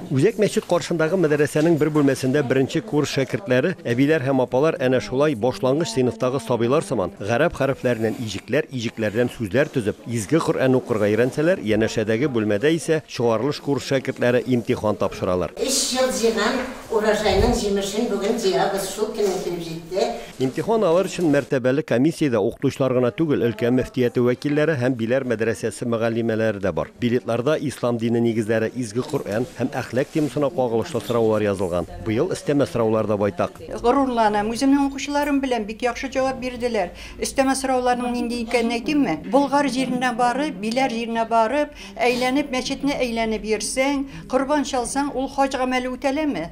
Үзәк мәчет каршындагы мәдрәсәнең бер бүлмәсендә беренче курс шәкертләре, әбиләр һәм апалар әнә шулай, башлангыч сыйныфтагы сабыйлар сыман, гарәп хәрефләреннән иҗекләр, иҗекләрдән сүзләр төзеп, Изге Коръән укырга өйрәнсәләр, янәшәдәге бүлмәдә исә чыгарылыш курс шәкертләре имтихан тапшыралар. Өч ел җыйган урожайның җимешен бүген җыябыз, шул көнең килеп җитте. Имтихан алыр өчен мәртәбәле комиссиядә укытучылар гына түгел, өлкә мөфтияте вәкилләре һәм Биләр мәдрәсәсе мөгаллимәләре дә бар. Билетларда Ислам дине нигезләре, Изге Коръән һәм әхлак темасына кагылышлы сораулар язылган. Быел өстәмә сораулар да байтак. Горурланам, үземнең укучыларым белән бик яхшы җавап бирделәр. Өстәмә сорауларның нинди икәнен әйтимме? Болгар җиренә барып, Биләр җиренә барып, әйләнеп, мәчетне әйләнеп йөрсәң, корбан чалсаң, ул хаҗ гамәле үтәләме?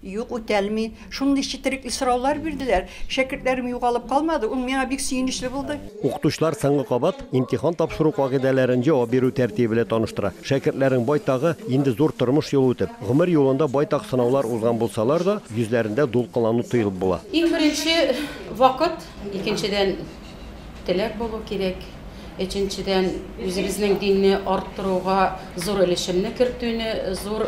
Юк, үтәлми. Шундый четерекле сораулар бирделәр. Шәкертләрем югалып калмады, ул миңа бик сөенечле булды. Укытучылар соңгы кабат имтихан тапшыру кагыйдәләрен җавап бирү тәртибе белән таныштыра. Шәкертләрнең байтагы инде зур тормыш юлы үтеп, гомер юлында байтак сынаулар узган булсалар да, йөзләрендә дулкынлану тоелып була. Иң беренче вакыт, икенчедән, Теләк булу кирәк. Өченчедән, үзебезнең динне арттыруга зур өлешемне кертүне зур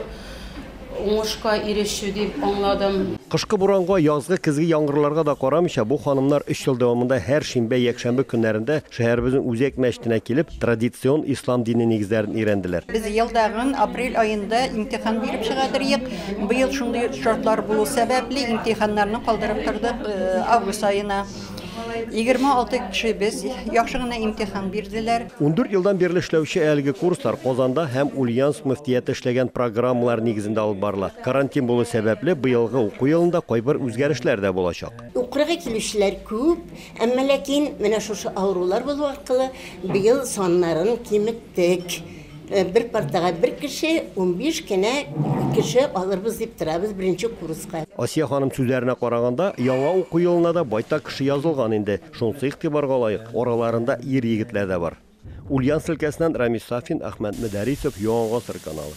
уңышка ирешү дип аңладым. Кышкы буранга, язгы, көзге яңгырларга да карамыйча, бу ханымнар өч ел дәвамында һәр шимбә-якшәмбе көннәрендә шәһәребезнең үзәк мәчетенә килеп, традицион ислам дине нигезләрен өйрәнделәр. Без елдагын апрель аенда имтихан биреп чыга торыек. Быел шундый шартлар булу сәбәпле, имтиханнарны калдырып тордык август аена. Егерме алты кешебез яхшы гына имтихан бирделәр. Ундүрт елдан бирле эшләүче әлеге курслар Казанда һәм Ульяновск мөфтияте эшләгән программалар нигезендә алып барыла. Карантин булу сәбәпле, быелгы уку елында кайбер үзгәрешләр дә булачак. Укырга килүчеләр күп, әмма ләкин менә шушы авырулар булу аркылы быел саннарын киметтек. Э, бер партага бер кеше, 15 кенә кеше алырбыз дип торабыз беренче курска. Асия ханым сүзләренә караганда, яңа уку елына да байтак кеше язылган инде. Шунысы игътибарга лаек, араларында ир-егетләр дә бар. Ульян өлкәсеннән Рамис Сафин, Ахмәт Мөдәрисов, Яңа гасыр каналы.